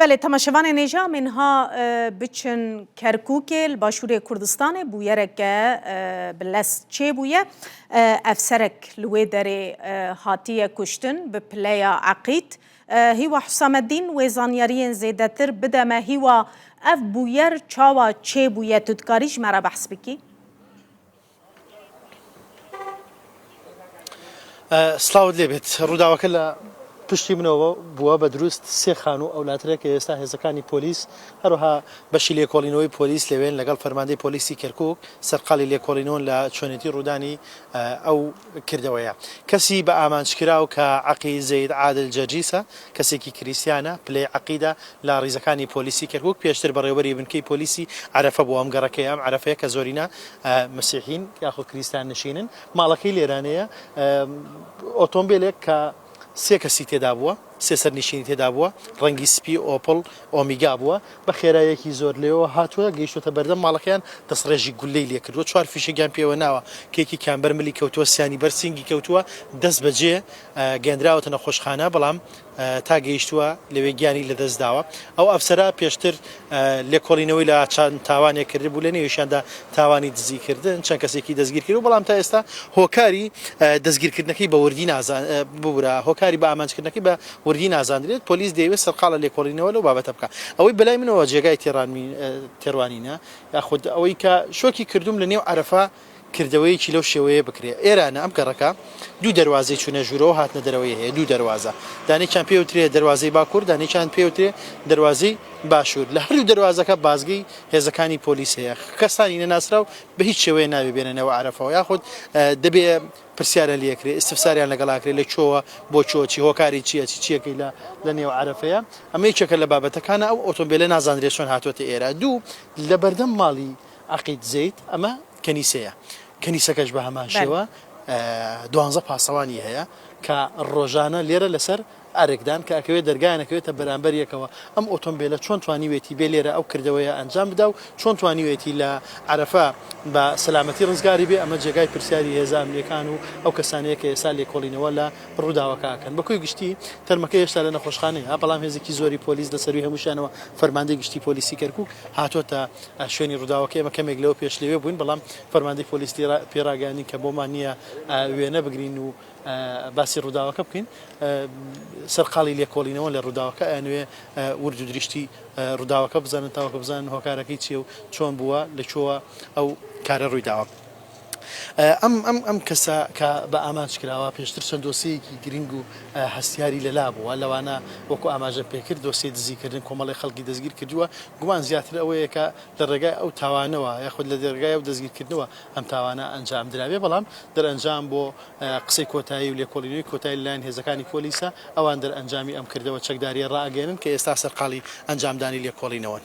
بەلێ تەماشەڤانێ نێژا مێن ها بچن کەرکوکێ لە باشوورێ کوردستانێ بویەرەکە بە لەس چێ بویە ئەفسەرەک لە وێ دەرێ هاتیە کوشتن بە پلەیا عەقید هیوا حوسامەدین وێ زانیاریێن زێدەتر بدەمە هیوا ئەڤ بویەر چاوا چێ بویە تو دکاریش مەرا بەحس بکی؟ سڵاوت لێ بێت ڕووداوەکە لە پشتی منەوە بووە بە دروست سێ خان و ئەولاترە کە ئێستا هێزەکانی پۆلیس هەروها بەشی لێکۆڵینەوەی پۆلیس لەوێن لەگەڵ فەرماندەی پۆلیسی کەرکک سەرقالی لێکۆڵینەوەن لە چۆنێتی ڕوودانی ئەو کردەوەیە کەسی بە ئامانجکراو کە عەقی زەید عادل جەرجیسە، کەسێکی کریستیانە، پلەی عەقیدە لە ڕیزەکانی پۆلیسی کەرکوک، پێشتر بەڕێوەبەری بنکەی پۆلیسی عەرەفە بووە، ئەم گەڕەکەیە، ئەم عەرەفەیە کە زۆرینە مسیحین یاخود کریستان نشینن، ماڵەکەی لێرانەیە، ئۆتۆمبێلێک کە سێ کەسی تێدابووە، سێ سەرنیشینی تێدا بووە، ڕەنگی سپی، ئۆپڵ، ئۆمیگا بووە، بە خێراییەکی زۆر لەوێوە هاتووە گەیشتووەتە بەردەم ماڵەکەیان، دەستڕێژی گوللەی لێ کردووە، چوار فیشەکیان پێوە ناوە، کە یەکێکیان بەر ملی کەوتووە، سیانی بەر سینگی کەوتووە، دەستبەجێ گەیەندراوەتە نەخۆشخانە، بەڵام تا گەیشتووە لەوێ گیانی لەدەست داوە، ئەو ئەفسەرە پێشتر لێکۆڵینەوەی لە چەند تاوانێک کردبوو لە نێویشیاندا تاوانی دزیکردن، چەند کەسێکی دەستگیرکردبوو، بەڵام تا ئێستا هۆکاری دەستگیرکردنەکەی بە وردی نازان ببورە هۆکاری بە ئامانجکردنەکەی بە وردی نازاندرێت، پۆلیس دەیەوێت سەرقاڵە لێکۆڵینەوە لەو بابەتە بکات. ئەوەی بەلای منەوە جێگای تێڕوانینە یاخود ئەوەی کە شۆکی کردووم لە نێو عەرەفە، کردەوەیەکی لەو شێوەیە بکرێ. ئێرانە ئەم گەڕەکە دوو دەروازەی چوونە ژوورەوە و هاتنە دەرەوەی هەیە، دوو دەروازە. دانێکیان پێی ئەوترێ دەروازەی باکوور، دانێکیان پێی ئەوترێ دەروازەی باشوور. لە هەردوو دەروازەکە بازگەی هێزەکانی پۆلیس هەیە. کەسانی نەناسراو بە هیچ شێوەیە نابێ بێنە نێو عەرەفەوە یاخود دەبێ پرسیارە لێ کرێ، ئیستفساریان لەگەڵا کرێ لە کوێوە، بۆ کوێ، چی هۆکاری چییە، چی چییەکەی لە لە نێو عەرەفەیە. ئەمە یەکێکە لە بابەتەکانە. ئەو ئۆتۆمبێلە نازاندرێ چۆن هاتووەتە ئێرە. دوو، لە بەردەم ماڵی عەقید زەید، ئەمە کەنیسەیە، کەنیسەکەش بە هەمان شێوە دوانزە پاسەوانی هەیە کە ڕۆژانە لێرە لەسەر ئەرکدان کە ئەکەوێت دەرگایان ئەکەوێتە بەرامبەر یەکەوە، ئەم ئۆتۆمبێلە چۆن توانیوێتی بێ لێرە ئەو کردەوەیە ئەنجام بدا و چۆن توانیوێتی لە عەرەفە بە سەلامەتی ڕزگاری بێ، ئەمە جێگای پرسیاری هێزە ئەمنییەکان و ئەو کەسانەیە کە ئێستا لێکۆڵینەوە لە ڕووداوەکە ئەکەن. بە کۆی گشتی تەرمەکە هێشتا لە نەخۆشخانەیە، بەڵام هێزێکی زۆری پۆلیس لە سەرووی هەمووشیانەوە فەرماندەی گشتی پۆلیسی کەرکووک هاتۆتە شوێنی ڕووداوەکە ئێمە کەمێک لەوە پێش لەوێ بووین، بەڵام فەرماندەی پۆلیس پێی ڕاگەیاندین کە بۆمان نییە وێنە بگرین و باسی ڕووداوەکە بکەین. سەرقاڵی لێکۆڵینەوەن لە ڕووداوەکە، ئەیانەوێ ورد و دریشتی ڕووداوەکە بزانن تاوەکو بزانن هۆکارەکەی چییە و چۆن بووە، لە کوێوە ئەو کارە ڕوویداوە. ئەم ئەم ئەم کەسە کە بە ئامانج کراوە، پێشتر چەند دۆسیەیەکی گرینگ و هەستیاری لە لا بووە، لەوانە وەکو ئاماژە پێکرد دۆسیەی دزی کردن کۆمەڵێک خەڵکی دەستگیر کردووە، گومان زیاتر ئەوەیە کە لە ڕێگای ئەو تاوانەوە یاخود لە ڕێگای ئەو دەستگیر کردنەوە ئەم تاوانە ئەنجام درابێ، بەڵام دەرئەنجام بۆ قسەی کۆتایی و لێکۆڵینەوەی کۆتایی لە لایەن هێزەکانی پۆلیسە، ئەوان دەرئەنجامی ئەم کردەوە چەکداریە ڕائەگەیەنن کە ئێستا سەرقاڵی ئەنجام دانی لێکۆڵینەوەن.